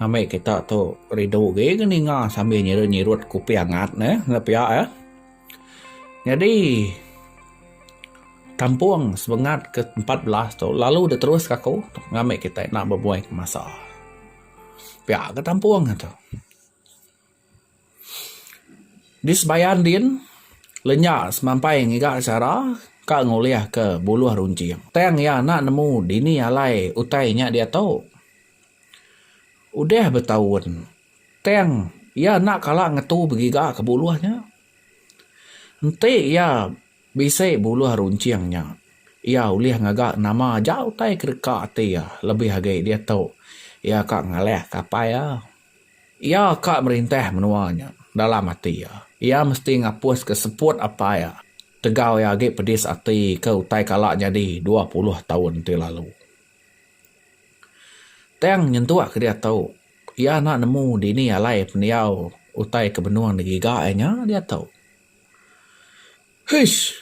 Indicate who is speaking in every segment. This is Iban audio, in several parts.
Speaker 1: Ambi kita tu rindu agi ke ninga sambil nyirut-nyirut kopi angat ne enda pia eh. Nyadi kampung semengat ke empat belas tu lalu deh terus ke aku ngambi kita enda bebuai ke masa. Pia ke kampung tu. Di sebayan din, lenya semampai ngiga chara ka ngulihka buluh runcing. Tang iya enda nemu dini alai utai nya diatu. Udah betaun, tang iya enda kala ngetu begiga ke buluh nya. Enti iya bisi buluh runcing nya, iya ulih ngaga nama aja utai ke deka ati iya lebih agi diatu iya ka ngalahka apai iya. Iya ka merintah menua nya dalam ati iya. Iya mesti ngapuska seput apai iya tegau iya agi pedis ati ke utai kala nyadi dua puluh taun ti lalu. Tang nyentuk ke diatu, iya enda nemu dini alai pendiau utai ke benung digiga iya nya diatu. Hish!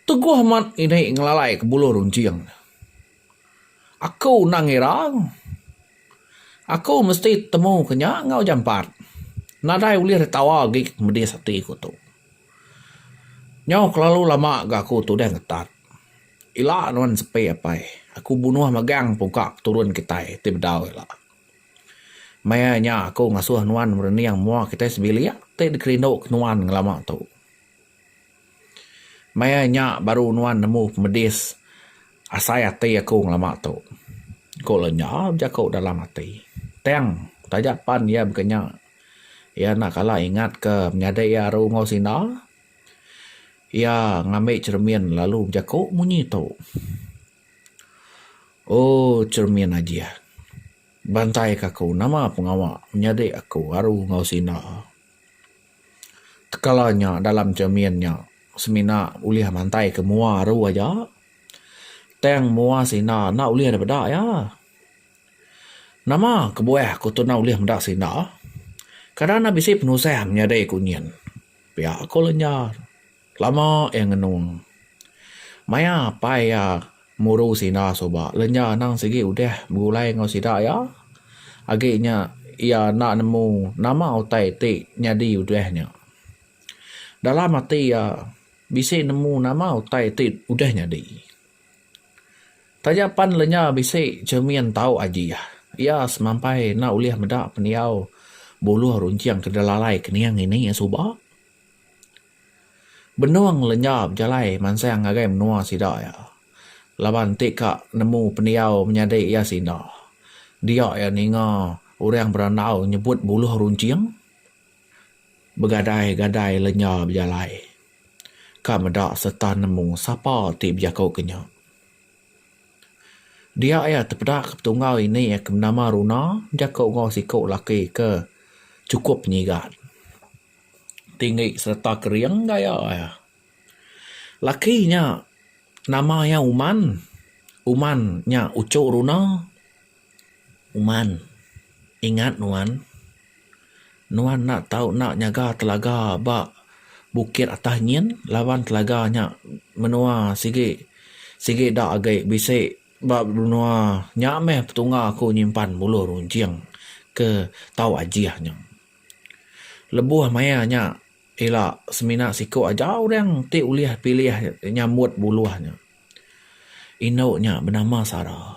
Speaker 1: Teguh amat ini ngelalai ke bulu runcing. Aku endang ngira aku mesti temu ke nya enggau jampat. Nadai ulih ditawa agi ke medis ati ku tu. Nyau kelalu lama ga aku tudah ngetat. Ila nuan sepi apai. Aku bunuh magang pungka peturun kitai ti bedau ila. Maya nya aku ngasuh nuan merening mua kitai sebilik ti dikerinduka nuan ngelama tu. Maya nya baru nuan nemu pemedis asai ati aku ngelama tu, ku lenya bejaku dalam ati. Tang taja pan iya baka nya, iya enda kala ingatka menyadi iya aru enggau sida. Iya ngambi cheremin lalu bejaku munyi tu. Oh cermin ajih. Bantaika aku nama pengawa menyadi aku aru enggau sida. Tekala nya dalam cermin nya semina ulih mantaika mua aru aja. Tang mua sida enda ulih dep meda iya. Nama kebuah aku tu enda ulih meda sida. Kada ne bisi penusah menyadi aku nyin. Pia ku lenyar. Lama iya ngenung. Maya apai iya muru sida suba lenja anang sigi udah begulai enggau sida iya agi nya iya enda nemu nama utai ti nyadi udah nya. Dalam ati iya bisi nemu nama utai ti udah nyadi. Taja pan lenja bisi cermin tau aji iya, iya semampai enda ulih meda pendiau buluh runcing ke dilalai kening ini suba. Benung lenja bejalai mansang ngagai menua sida iya. Laban ti ka nemu pendiau menyadi iya sinda. Dia iya ninga orang berandau nyebut buluh runcing begadai-gadai lenja bejalai. Ka meda sereta nemu sapa ti bejaku ke nya. Dia iya tepeda ke petungau ini ke benama Runa bejaku enggau siku laki ke chukup nyigan. tinggi sereta kering gaya iya. Laki nya nama iya Uman. Uman nya uchu runa. Uman, ingat nuan. Nuan enda tau enda nyaga telaga ba bukit atas nyin laban telaga nya menua sigi sigi enda agi bisi ba menua nya meh petunga aku nyimpan buluh runcing ke tau ajih nya. Lebuh maya nya ila semina siku aja orang ti ulih pilih nyambut buluh nya. Indu nya benama Sara.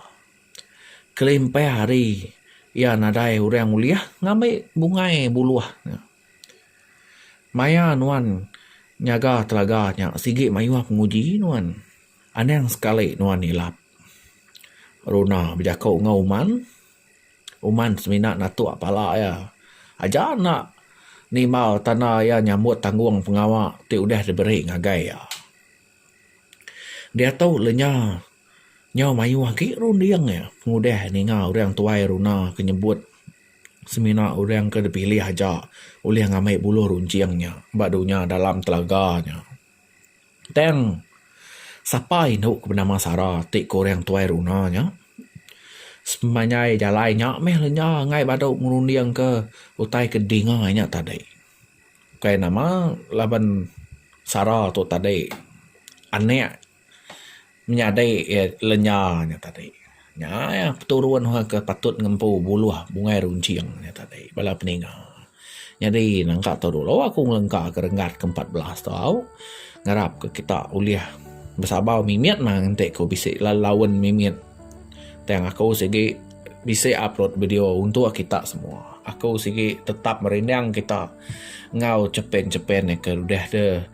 Speaker 1: Kelimpah hari iya nadai orang ulih ngambi bungai buluh nya. Maya nuan nyaga telaga nya sigi mayuh penguji nuan. Anang sekali nuan nilap runa bejaku enggau uman. Uman semina natuk pala iya aja enda nimbal tanda iya nyambut tanggung pengawa ti udah diberi ngagai iya. Diatu lenya nyau mayuh agi runding iya pengudah iya ninga orang tuai runa ke nyebut semina orang ke dipilih aja ulih ngambi buluh runcing iya ba dunya dalam telaga iya. Tang sapa indu ke benama Sara ti ke orang tuai runa nya semenjai jalai nya meh le nya angai badu ngerunding ke utai ke dinga nya tadi bukai nama laban Sara tu tadi anak Menyadi lenya nya tadi nya iya peturun ke patut ngempu buluh bungai runcing nya tadi bala peninga. Nyadi nangka tu dulu aku ngelengka ke renggat ke empat belas tau ngarap ke kita ulih besabar mimit mah enti ku bisi laun mimit tang aku sigi bisi upload video untuk kita semua. Aku sigi tetap merinding kita enggau chepin-chepin ke udah deh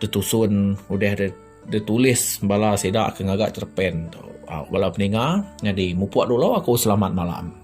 Speaker 1: tetusun udah deh. Dia tulis bala sida ke ngaga cerpen tu. Au bala peninga nyadi mupuk dulu aku selamat malam.